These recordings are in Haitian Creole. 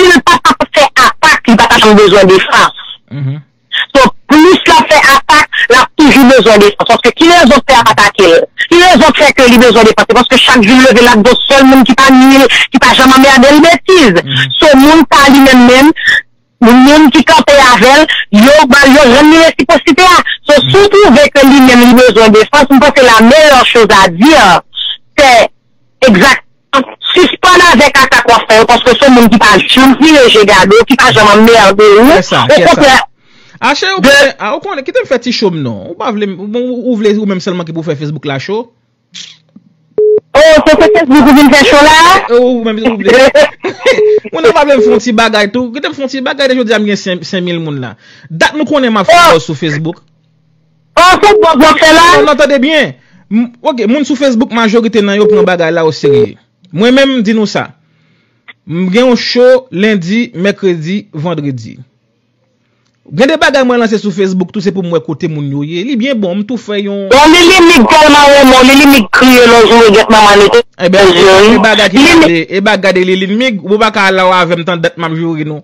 Si l pa t ap fè atak, li pa t ap janm bezwen defans. So, plis l ap fè atak, l ap toujou bezwen defans. Paske ki rezon pè a pa atake l? Ki rezon k fè ke li bezwen defans? Se paske chak jou l leve l ap gon sèl moun ki pa nui l, ki pa janm anmède l. Betiz! So, moun sa a li menm menm, moun ki kanpe avè l, yo ba l, yo rann li resiposite a. So, si w twouve ke li menm li bezwen defans, m panse la meyè choz a di, se. Exactement. Sispann avek atak wap fè yo paske son moun ki pa janm vire je gade w, ki pa janm anmerde ou. Kè sa, kè sa. Okontrè. Ashe ou konnen, a ou konnen, kite m fè ti cho m non. Ou pa vle m, bon ou vle ou menm sèlman ki pou fè Facebook la cho? Oh, se sou Facebook ou vin fè cho la? Ou menm ou vle. Ou nan pa vle m fon ti bagay tou? Kite m fon ti bagay de jodi a m gen 5000 moun la. Dat nou konnen map fè buzz sou Facebook? Oh se bon zan fè la. Ou nan tande byen. Ok moun sou Facebook majorite nan yo pran bagay la o serye. Mwen menm m di nou sa. M gen yon show lendi, mèkredi, vandredi. Gen de bagay mwen lanse sou Facebook tou se pou m wè kote moun yo ye. Li byen bon m tou fè yon. Bon Lili mig tèlman renmen w Lili mig kriye lè w joure gèt manman li nan zye w. Ebyen e bagay ki gade e bagay gade Lili mig ou pa ka al la w avè m tandat m ap joure nou.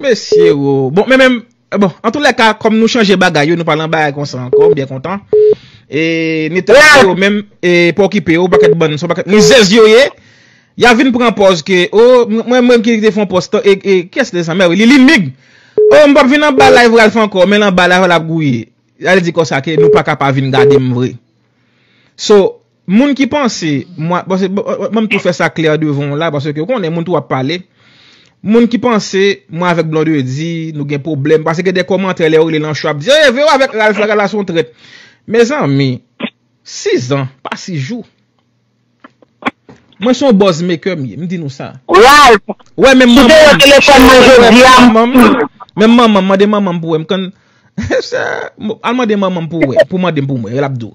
Mesye wo. Bon men men bon an tou lèka kòm nou chanje bagay yo nou pa lan bagay konsa ankò m byen kontan. E neta se yo menm e pa okipe yo pakèt bann son pakèt rizèz yo ye. Ya vin pran pòz ke o mwen mwen ki te fon pòz tan e kiyès te san mè wi li li mig. O m pap vin anba live Ralph ankò men anba live lap gouye. Al di konsa ke nou paka pa vin gade m vre. So. Moun ki panse mwa, paske banm tou fè sa klè devan w la, paske ou konnen moun tou ap pale, moun ki panse mwen avèk Blondedy nou gen pwoblèm, paske gen de kòmantè lè ou rele l ancho ap di, e vero avèk Ralph la, Ralph la se yon trèt. Mezanmi, 6 zan, pa 6 jou. Mwen se yon buzz maker m ye, m di nou sa. Ralph, si te wè telefòn mwen jodi a, m pou ou. Menm manman m, mande manman m pou wè m, m konn, al mande manman m pou wè, pou mande m pou mwen, l ap di w.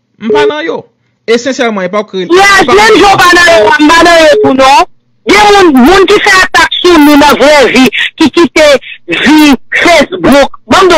M pa nan yo. Esensyèlman, epa w k rele. Frè, m menm jan w pa nan yo a, m pa nan yo tou non. Gen moun, moun ki fè atak sou nou nan vrè vi, ki kite vi Facebook, ban m di w.